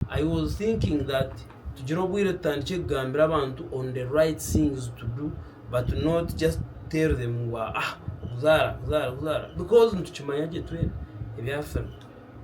I was thinking that tugire obwire tutandikye kugambira abantu on the right things to do but not just tell them ngu ah okuzaara kuzaara kuzaara because nitukimanya gye twena ebya film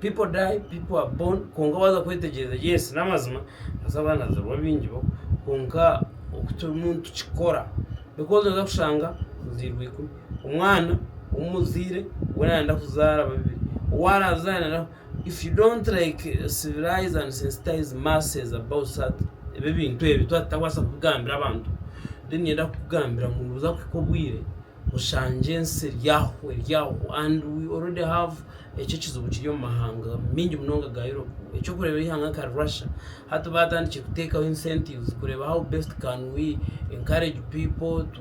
people die people are born kwonka waza kwetegyereza yes n'amazima noza kuba nazaarwa abaingi bo kwonka oku turimu nitukikora because noza kushanga ozairwe ikumi omwana omuzaire we nayenda kuzaara babiri owu arazaare. If you don't like civilize and sensitize masses about such ebi ebintu ebi twaba tutakubaasa kubigambira abantu then niinyenda kukugambira ngu nibuza kuhika obwire oshange ensi eri aho eri aho and we already have ekyo ekizibu kiri omu mahanga maingi munonga ga Europe eky'okureeba eihanga nka Russia hati baatandikire kuteekaho incentives kureeba how best can we encourage people to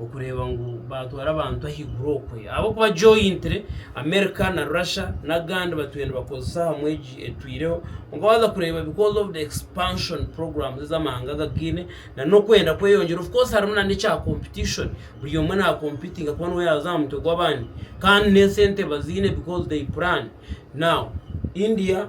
okureeba ngu baatwara abantu ahaiguru okwe ahabw'okuba jointly America na Russia n'agandi batwire nibakozesa ahamu egi etwireho kwonka waaza kureeba because of the expansion programs ezi amahanga gagaine na n'okwenda kweyongyera of course harimu na n'ekya competition buri omwe naakompiitinga kuba niwe yaaza aha mutwe gw'abandi kandi n'esente baziine because they plan now India.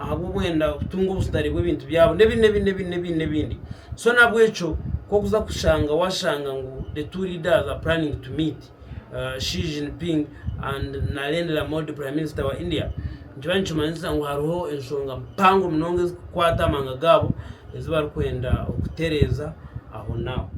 ahabw'obwenda kutunga obusitare bw'ebintu byabo n'ebindi n'ebindi n'ebindi n'ebindi n'ebindi so nabwekyo kokuza kushanga washanga ngu the two leaders are planning to meet uh, Xi Jinping and Narendra Modi prime minister wa India nikiba nikimanyisa ngu hariho enshonga mpango munonga ezikukwata amanga gaabo ezibarikwenda okutereeza aho naaho